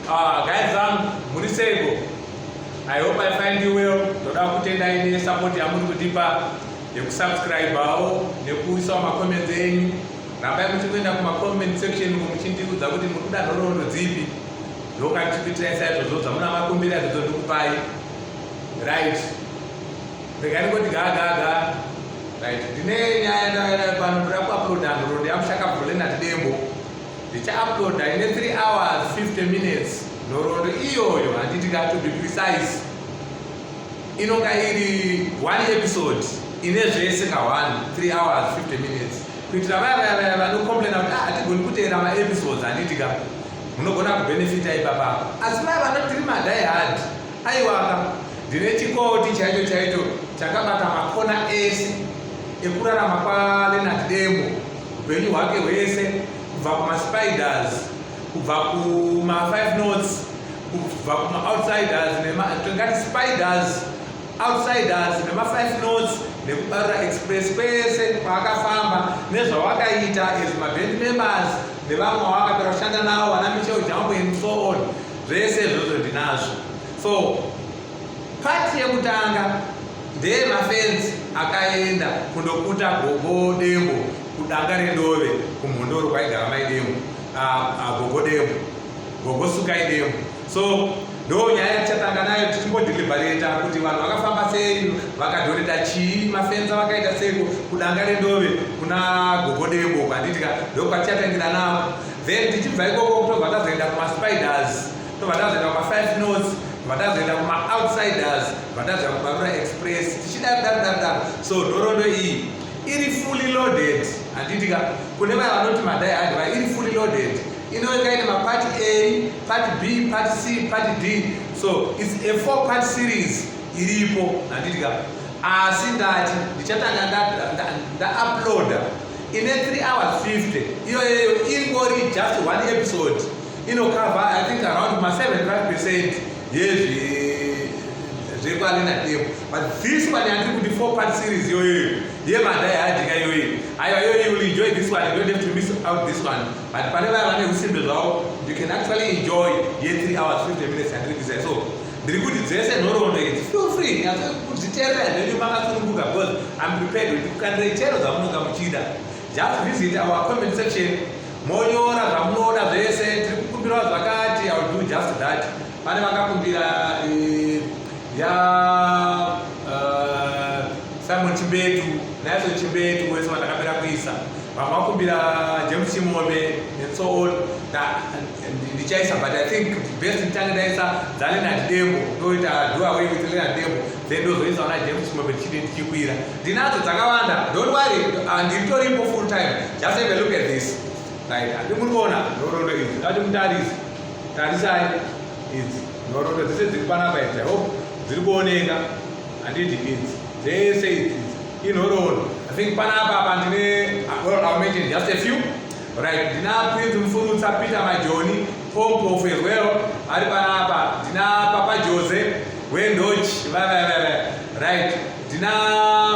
Ah, guys zangu muri seiko i hope i find you well ndoda kutendai nesupport yamuri kutipa yekusubscribawo nekuisawo macomments enyu rambai muchikuenda kumacomment section uko muchindiudza kuti muri kuda nhoroondo dzipi ndokatichikuitirai saizvozvo zvamuna makumbira izvozvo ndikupai right regai ndikoti gagaga right ndine nyaya ndaayo pano ndoda kuaploda nhoroondo yamushakabvulenati dembo ndichauploada ine 3 hours 50 minutes nhoroondo iyoyo handiti ka to be precise inonga iri one episode ine zvese ka one 3 hours 50 minutes kuitira vaya vaya vaya vanocomplaina kuti ah, hatigoni kuteera maepisodes handiti ka munogona kubenefita ipapa asi vaya vanotiri madai hard aiwaka ndine chikoti chaicho chaicho chakabata makona ese ekurarama kwalenat demo upenyu hwake hwese kubva kumaspiders kubva kuma5 notes kubva kumaoutsiders tingati spiders outsiders nema5 notes nekubarira express kwese kwaakafamba nezvawakaita as maband members nevamwe wawakapera kushanda nawo vana michel jambo and so on zvese izvozvo ndinazvo so Part yekutanga ndeye mafenzi akaenda kundokuta gogo dembo kudanga rendove kumhondoro kwaigara mai dembo gogo dembo gogo sukai dembo so ndo nyaya tichatanga nayo tichimbodhilibareta kuti vanhu vakafamba sei vakadhoreta chii mafenza vakaita seiko kudanga rendove kuna gogo dembo kwanditika ndokwatichatangira navo then tichibva ikoko kutobva tazoenda kumaspiders tobva tazoenda kuma five notes tobva tazoenda kuma outsiders tobva tazoenda kubarura express tichidaro daro daro daro so nhorondo iyi iri fully loaded handiitika kune vaya vanoti madai hadi va iri fully loaded inoweka ine mapati a pati b pati c pati d so its a four part series iripo handiitika asi ndati ndichatanga ndauploada ine 3 hours 50 iyoyeyo ingori just one episode inokava i think around ma 75 percent yezve zvekwalina demo but this one yandiri kuti four part series yoyoyo yemadai adika yoyo aiwa yoyo you will enjoy this one you don't have to miss out this one but pane vaya vane usimbe zvavo you can actually enjoy ye 3 hours 50 minutes yandiri kuisa so ndiri kuti dzese nhoroondo idzi feel free kudziteerera zvenyu makasununguka because i'm prepared kuti kukanira chero dzamunonga muchida Just visit our comment section monyora zvamunoda zvese tiri kukumbirawo zvakati i will do just that pane vakakumbira eh, ya eh, simon chimbetu naiso chimbetu wese vandakapera kuisa vamwe vakumbira james chimome and so on ndichaisa but i think best nditange ndaisa dzalenard dembo ndoita do away with lenard dembo then ndozoisa ona james chimome ndichiti ndichikwira ndinadzo dzakawanda don't worry ah, ndiritoripo full time just have a look at this right andi muri kuona nhorondo idzi ndati mutarise tarisai idzi nhorondo dzese dziri panapa idzi hope dziri kuoneka handiti idzi dzese idzi inhorondo i think panapa apa ndine mention just a few right ndina prince mfurutsa peter majoni pompof as well ari panapa ndina papa jose wendoch vavavava right Tina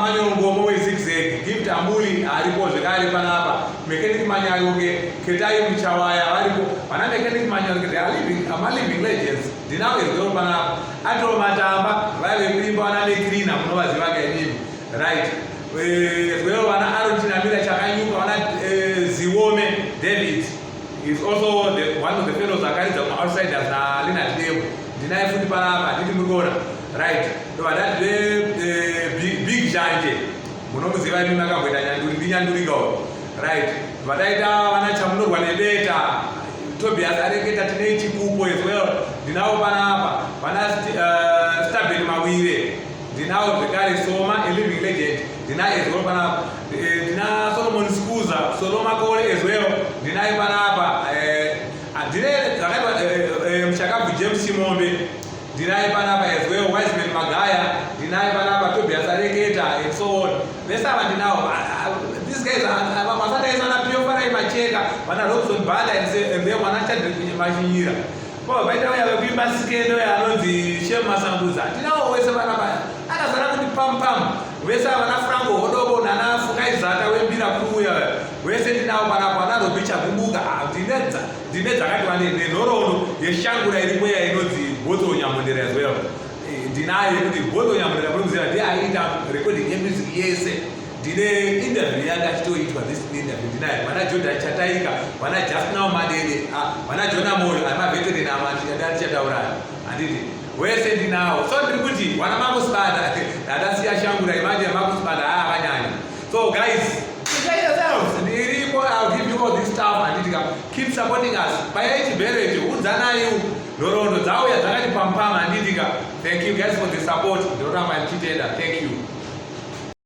manyongomo wezigzeg gift ambuli aripo zvekare panapa mechanic manyayoke ketai muchawaya varipo vana mechanic manyayoke they are living ama living legends ndinawo ezero panapa atoo matamba vaive kuimba vana meclina munovaziva kainini right ezero eh, vana arotinamira chakanyuka vana eh, ziwome david is also the, one of the fellows akaridza kuma outsiders nalina demo ndinaye futi panapa nditi muriona right ndovadati vebig jante munomuziva imi makamboita nyanduri ndinyandurika uyo right vataita vana chamunorwa nebeta tobias areketa tine chikupo as well ndinawo panapa vana eh, staben mawire ndinawo zvekare soma eliving legend ndina as well panapa eh, ndina solomon scuza solomakole as well ndinaye panapa eh, andire dzakaitwa muchakabvu james chimombe Ndinaye panapa as well, Wiseman Magaya, ndinaye panapa Tobias Areketa and so on. Vese ava ndinawo. Ah, ah, these guys vasakaisa na Pio Farai Macheka, vana Robson Bala and then vana Chadri Mashinyira. Ko vaita vaya vekuimba sikendo yanonzi Shem Masanguza. Tinawo wese vana vaya. Akazara kuti pam pam. Vese vana Franco Hodobo nana Fukai Zata wembira kuuya. Vese ndinawo vana vana Robicha Kumbuka. Ah, ndinedza. Ndine dzakati wandei nenhoroondo yeshangura iri mweya inonzi Bottle Nyamondera as well. Eh, ndinayo yekuti Bottle Nyamondera muri kuziva ndiye aiita recording yemusic yese. Ndine interview yanga achitoitwa this interview ndinayo. Vana Jordan Chataika, vana Just Now Madede, ah, vana Jonah Moyo, ama veteran ama ndichataura. Handiti wese ndinawo. So ndiri kuti vana makusibanda, ndadasiya shangura imanje makusibanda haa ah, vanyanya. So guys, prepare yourselves. Ndiripo, I'll give you all this stuff and it keep supporting us. Paya ichi bereti, udzana you. Nhorondo dzawo yadzakati pampama anditika. Thank you guys for the support. Ndoramba ndichitenda. Thank you.